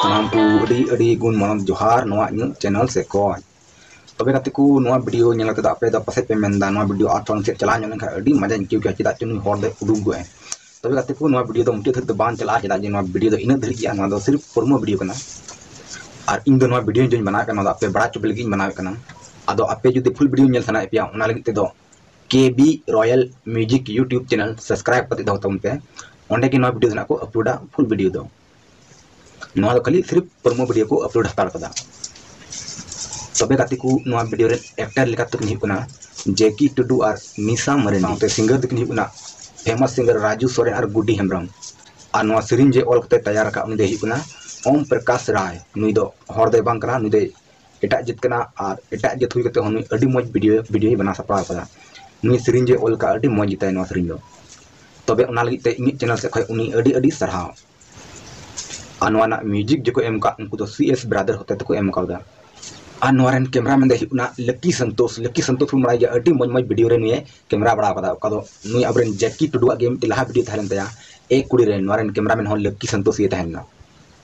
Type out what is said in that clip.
ᱥᱟᱱᱟᱢ ᱠᱚ ᱟᱹᱰᱤ ᱟᱹᱰᱤ ᱜᱩᱱ ᱢᱟᱱᱚᱛ ᱡᱚᱦᱟᱨ ᱱᱚᱣᱟ ᱤᱧᱟᱹᱜ ᱪᱮᱱᱮᱞ ᱥᱮᱫ ᱠᱷᱚᱱ ᱛᱚᱵᱮ ᱜᱟᱛᱮ ᱠᱚ ᱱᱚᱣᱟ ᱵᱷᱤᱰᱤᱭᱳ ᱧᱮᱞ ᱠᱟᱛᱮ ᱟᱯᱮ ᱫᱚ ᱯᱟᱥᱮᱡ ᱯᱮ ᱢᱮᱱᱫᱟ ᱱᱚᱣᱟ ᱵᱷᱤᱰᱤᱭᱳ ᱟᱨ ᱛᱷᱚᱲᱟ ᱥᱮᱫ ᱪᱟᱞᱟᱣ ᱧᱚᱜ ᱞᱮᱱᱠᱷᱟᱱ ᱟᱹᱰᱤ ᱢᱚᱡᱟᱧ ᱟᱹᱭᱠᱟᱹᱣ ᱠᱮᱭᱟ ᱪᱮᱫᱟᱜ ᱪᱚ ᱱᱩᱭ ᱦᱚᱲ ᱫᱚᱭ ᱩᱰᱩᱠ ᱜᱚᱫ ᱮᱱ ᱛᱚᱵᱮ ᱜᱟᱛᱮ ᱠᱚ ᱱᱚᱣᱟ ᱵᱷᱤᱰᱤᱭᱳ ᱫᱚ ᱢᱩᱪᱟᱹᱫ ᱫᱷᱟᱹᱨᱤᱡ ᱫᱚ ᱵᱟᱝ ᱪᱟᱞᱟᱜᱼᱟ ᱪᱮᱫᱟᱜ ᱡᱮ ᱱᱚᱣᱟ ᱵᱷᱤᱰᱤᱭᱳ ᱫᱚ ᱤᱱᱟᱹᱜ ᱫᱷᱟᱹᱨᱤᱡ ᱜᱮᱭᱟ ᱱᱚᱣᱟ ᱫᱚ ᱥᱤᱨᱤᱯ ᱯᱨᱳᱢᱳ ᱵᱷᱤᱰᱤᱭᱳ ᱠᱟᱱᱟ ᱟᱨ ᱤᱧ ᱫᱚ ᱱᱚᱣᱟ ᱵᱷᱤᱰᱤᱭᱳ ᱡᱮᱧ ᱵᱮᱱᱟᱣᱮᱫ ᱠᱟᱱᱟ ᱱᱚᱣᱟ ᱫᱚ ᱟᱯᱮ ᱵᱟᱲᱟᱭ ᱦᱚᱪᱚ ᱞᱟᱹᱜᱤᱫ ᱤᱧ ᱵᱮᱱᱟᱣᱮᱫ ᱠᱟᱱᱟ ᱟᱫᱚ ᱟᱯᱮ ᱡᱩᱫᱤ ᱯᱷᱩᱞ ᱵᱷᱤᱰᱤᱭᱳ ᱧᱮᱞ ᱥᱟᱱᱟᱭᱮᱫ ᱯᱮᱭᱟ ᱚᱱᱟ ᱞᱟᱹᱜᱤᱫ ᱛᱮᱫᱚ ᱠᱮ B royal music YouTube channel subscribe ᱠᱟᱛᱮ ᱫᱚᱦᱚ ᱛᱟᱵᱚᱱ ᱯᱮ ᱚᱸᱰᱮ ᱜᱮ ᱱᱚᱣᱟ ᱵᱷᱤᱰᱤᱭᱳ ᱫᱚ ᱱᱟᱜ ᱠᱚ ᱟᱯᱞᱳᱰᱟ ᱯᱷᱩᱞ ᱵᱷᱤᱰᱤᱭᱳ ᱫᱚ ᱱᱚᱣᱟ ᱫᱚ ᱠᱷᱟᱹᱞᱤ ᱥᱤᱨᱤᱯ ᱯᱨᱚᱢᱳ ᱵᱷᱤᱰᱤᱭᱳ ᱠᱚ ᱟᱯᱞᱳᱰ ᱦᱟᱛᱟᱲ ᱠᱟᱫᱟ ᱛᱚᱵᱮ ᱜᱟᱛᱮ ᱠᱚ ᱱᱚᱣᱟ ᱵᱷᱤᱰᱤᱭᱳ ᱨᱮ ᱮᱠᱴᱟᱨ ᱞᱮᱠᱟ ᱛᱮᱠᱤᱱ ᱦᱩᱭᱩᱜ ᱠᱟᱱᱟ ᱡᱮᱠᱤ ᱴᱩᱰᱩ ᱟᱨ ᱱᱤᱥᱟ ᱢᱟᱨᱮᱱ ᱥᱟᱶᱛᱮ ᱥᱤᱝᱜᱟᱨ ᱫᱚᱠᱤᱱ ᱦᱩᱭᱩᱜ ᱠᱟᱱᱟ ᱯᱷᱮᱢᱟᱥ ᱥᱤᱝᱜᱟᱨ ᱨᱟᱡᱩ ᱥᱚᱨᱮᱱ ᱟᱨ ᱜᱩᱰᱤ ᱦᱮᱢᱵᱨᱚᱢ ᱟᱨ ᱱᱚᱣᱟ ᱥᱮᱨᱮᱧ ᱡᱮ ᱚᱞ ᱠᱟᱛᱮ ᱛᱮᱭᱟᱨ ᱟᱠᱟᱫ ᱩᱱᱤ ᱫᱚᱭ ᱦᱩᱭᱩᱜ ᱠᱟᱱᱟ ᱳᱢ ᱯᱨᱚᱠᱟᱥ ᱨᱟᱭ ᱱᱩᱭ ᱫᱚ ᱦᱚᱲ ᱫᱚᱭ ᱵᱟᱝ ᱠᱟᱱᱟ ᱱᱩᱭ ᱫᱚᱭ ᱮᱴᱟᱜ ᱡᱟᱹᱛ ᱠᱟᱱᱟ ᱟᱨ ᱮᱴᱟᱜ ᱡᱟᱹᱛ ᱦᱩᱭ ᱠᱟᱛᱮ ᱦᱚᱸ ᱱᱩᱭ ᱟᱹᱰᱤ ᱢᱚᱡᱽ ᱵᱷᱤᱰᱤᱭᱳ ᱵᱷᱤᱰᱤᱭᱳᱭ ᱵᱮᱱᱟᱣ ᱥᱟᱯᱲᱟᱣ ᱠᱟᱫᱟ ᱱᱩᱭ ᱥᱮᱨᱮᱧ ᱡᱮ ᱚᱞ ᱠᱟᱜᱼᱟ ᱟᱹᱰᱤ ᱢᱚᱡᱽ ᱜᱮᱛᱟᱭᱟ ᱱᱚᱣᱟ ᱥᱮᱨᱮᱧ ᱫᱚ ᱛᱚᱵᱮ ᱚᱱᱟ ᱞᱟᱹᱜᱤᱫ ᱛᱮ ᱤᱧᱟᱹᱜ ᱪᱮᱱᱮᱞ ᱥᱮᱫ ᱠᱷᱚᱱ ᱩᱱᱤ ᱟᱹᱰᱤ ᱟᱹᱰᱤ ᱥᱟᱨᱦᱟᱣ ᱟᱨ ᱱᱚᱣᱟ ᱨᱮᱱᱟᱜ ᱢᱤᱭᱩᱡᱤᱠ ᱡᱮᱠᱚ ᱮᱢ ᱠᱟᱜ ᱩᱱᱠᱩ ᱫᱚ ᱥᱤ ᱮᱥ ᱵᱨᱟᱫᱟᱨ ᱦᱚᱛᱮ ᱛᱮᱠᱚ ᱮᱢ ᱠᱟᱣᱫᱟ ᱟᱨ ᱱᱚᱣᱟ ᱨᱮᱱ ᱠᱮᱢᱨᱟᱢᱮᱱ ᱫᱚᱭ ᱦᱩᱭᱩᱜ ᱠᱟᱱᱟ ᱞᱟᱹᱠᱤ ᱥᱚᱱᱛᱳᱥ ᱞᱟᱹᱠᱤ ᱥᱚᱱᱛᱳᱥ ᱵᱚᱱ ᱵᱟᱲᱟᱭ ᱜᱮᱭᱟ ᱟᱹᱰᱤ ᱢᱚᱡᱽ ᱢᱚᱡᱽ ᱵᱷᱤᱰᱤᱭᱳ ᱨᱮ ᱱᱩᱭᱮ ᱠᱮᱢᱨᱟ ᱵᱟᱲᱟ ᱠᱟᱫᱟ ᱚᱠᱟ ᱫᱚ ᱱᱩᱭ ᱟᱵᱚᱨᱮᱱ ᱡᱟᱹᱠᱤ ᱴᱩᱰᱩᱣᱟᱜ ᱜᱮ ᱢᱤᱫᱴᱮᱱ ᱞᱟᱦᱟ ᱵᱷᱤᱰᱤᱭᱳ ᱛᱟᱦᱮᱸ ᱞᱮᱱ ᱛᱟᱭᱟ ᱮ ᱠᱩᱲᱤ ᱨᱮ ᱱᱚᱣᱟ ᱨᱮᱱ ᱠᱮᱢᱨᱟᱢᱮᱱ ᱦᱚᱸ ᱞᱟᱹᱠᱤ ᱥᱚᱱᱛᱳᱥ ᱜᱮ ᱛᱟᱦᱮᱸ ᱞᱮᱱᱟ